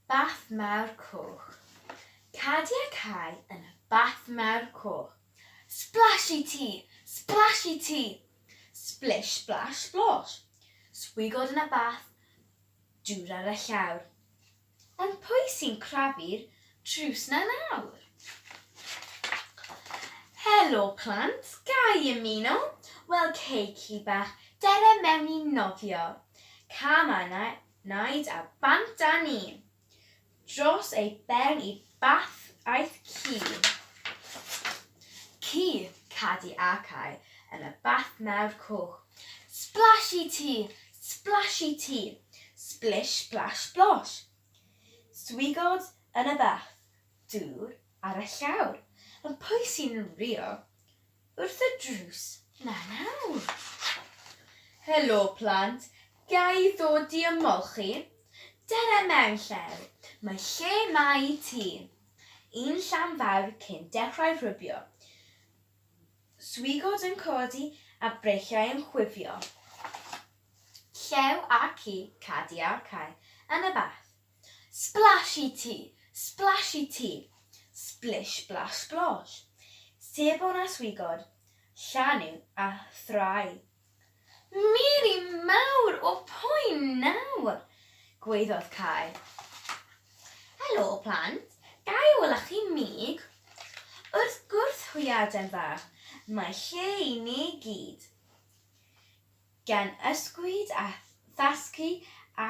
Bath Mawr Coch. Cadi a cau yn y Bath Mawr Coch. Splashy Tee! Splashy Tee! Splish Splash Splosh! Swigod yn y bath, dŵr ar y llawr. Ond pwy sy'n crafu'r drws 'na nawr? Helo plant, ga i ymuno? Wel cei chi bach, dere mewn i nofio. Cama 'na Naid a bant a ni. Dros ei ben i bath aeth ci. Ci, cadi a cau yn y bath mawr coch. Splash i ti! Splash i ti! Splish splash splosh! Swigod yn y bath, dŵr ar y llawr, yn pwysi'n rio, Wrth y drws 'na nawr. Helo, plant. Ga i ddod i ymweld chi? Dere mewn llew. Mae lle 'ma i ti. Un llan fawr cyn dechrau rhybio. Swigod yn codi a breichiau yn chwifio. Llew a ci, cadi a cae, yn y bath. Splash i ti! Splash i ti! Splish blash splosh. Sebon a swigod, llanu a thrai. Miri mawr o poen nawr! gwaeddodd Cai. Helo, plant. Ga i ola chi mig? Wrth gwrs, hwy Adain fach. Mae lle i ni gyd. Gan ysgwyd a thasgu a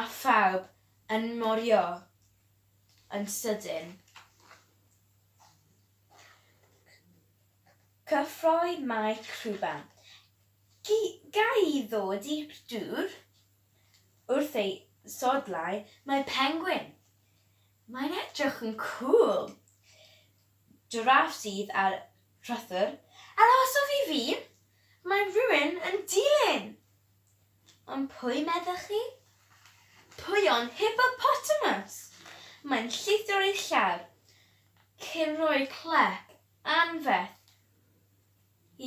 A phawb yn morio yn sydyn. Cyffroi mae crwban. Gy ga i ddod i'r dŵr? Wrth ei sodlau mae pengwin. Mae'n edrych yn cŵl. Jiráff sydd ar rhythwr. Arhoswch i fi! Mae rhywun yn dilyn! Ond pwy meddech chi? Pwy ond Hippopotamus! Mae'n llithro ei llaw cyn rhoi clec anferth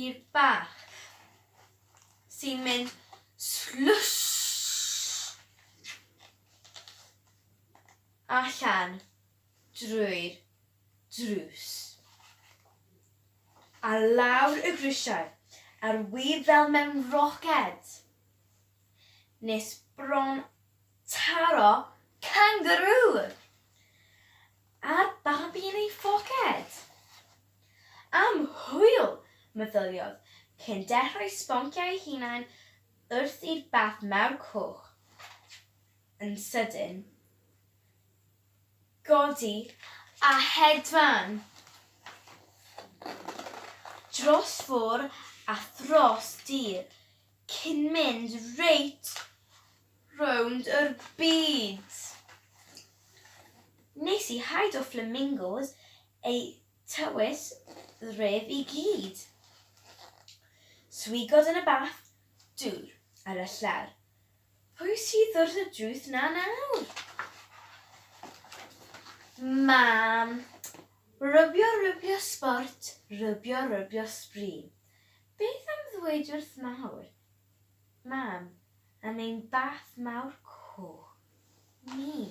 i'r bach sy'n mynd slwsh allan drwy'r drws. Ar lawr y grisiau a'r wib fel mewn roced. Nes bron taro cangarŵ! A'r babi yn ei phoced! Am hwyl! meddyliodd, cyn dechrau sbonciau ei hunain wrth i'r bath mawr coch yn sydyn godi a hedfan dros fôr a thros dir cyn mynd reit rownd yr byd. Nes i haid o flamingos eu tywys ref i gyd. Swigod yn y bath dŵr ar y llawr Pwy sydd wrth y drws 'na nawr? Mam. Rybio rybio sbort, rybio rybio sbri. Beth am ddweud wrth mawr? Mam. Am ein bath mawr coch ni.